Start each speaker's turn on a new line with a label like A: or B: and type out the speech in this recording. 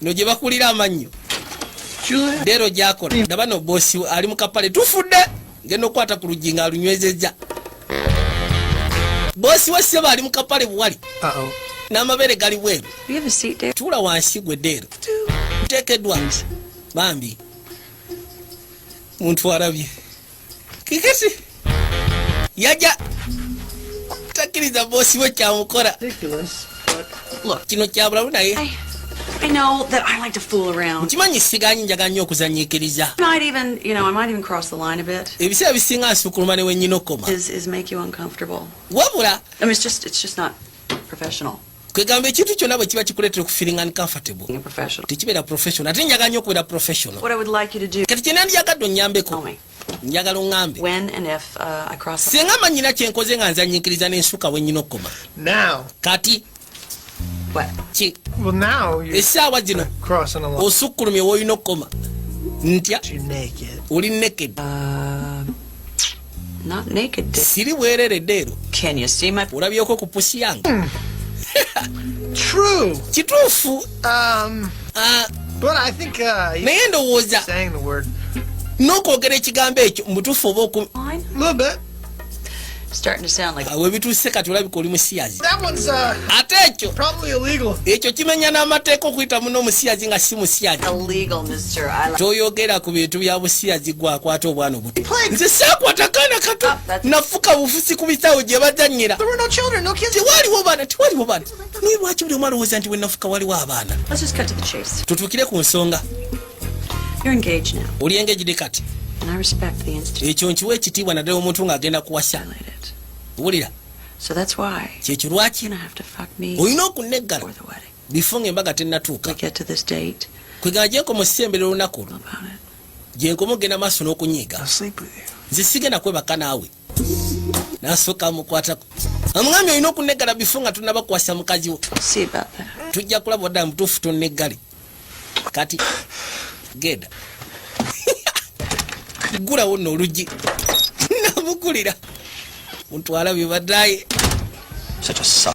A: no gye bakulira amannyo dero gyakola ndaba no bosi ali mukapale tufudde ngenda okukwata ku luggi nga alunywezezza bosi we seba ali mukapale buwali n'amabeere gali bweru tuula wansi gwe deero nteekeddwa bambi muntu arabye kikisi yaja takiriza bosi we kyamukola kino kyabulamu naye I know
B: that I like to fool around. Nkimanyi siganyi njaga
A: nnyo okuzanyiikiriza. Might even, you know,
B: I might even cross the line a bit. Ebiseera bisinga nsukuluma
A: ne wennyina okoma. Is is make you uncomfortable.
B: Wabula. I mean,
A: it's just it's just
B: not professional. kwegamba ekintu
A: kyonna bwe kiba kikuleetera okufiringa ni comfortable tekibeera professional ate njaga nyo okubeera professional kati
B: kyena ndiyagadde
A: onyambeko njagala oŋambe uh,
B: singa manyina kyenkoze nga
A: nzanyinkiriza nensuka wenyina okukoma kati
C: esaawa zino osukkulumye woolina okukoma
A: ntya
C: oli naked uh,
B: siri bwerere
A: deero
B: olabyeko ku pusi yange
A: hmm.
C: kituufu
A: um,
C: uh, uh, naye ndowooza n'okwogera
A: ekigambo ekyo mubutuufu oba oku
B: webituuse kati olabika oli
A: musiyazi uh,
C: ate ekyo ekyo kimenya
A: n'amateeka okuyita muno omusiyazi nga si musiyazi
B: toyogera ku bintu
A: bya busiyazi gwakwata obwana nze sakwata kaana kato ah, nafuka bufusi ku bisaawe gye bazanyira
C: tewaliwo baana tewaliwo
A: baana naye lwaki buli omwana owooza nti wenafuka waliwo abaana
B: tutuukire ku nsonga oli engejide kati ekyo nkiwa ekitiibwa naddala
A: omuntu ng'agenda kuwasa wulira
B: kyekyo lwaki olina okunneggala
A: bifo
B: nga embaga
A: tennatuuka
B: kwegana gyenkomusemberera
A: olunaku olwo gyenkoma okugenda maaso n'okunyiiga nze sigenda kwebaka naawe nasooka mukwatako amwami olina okuneggala bifo nga tunabakwasa mukazi wo
B: tujja kulaba wadala mutuufu
A: toneggale kati genda gulawo no oluggi namukulira muntwala bibadaye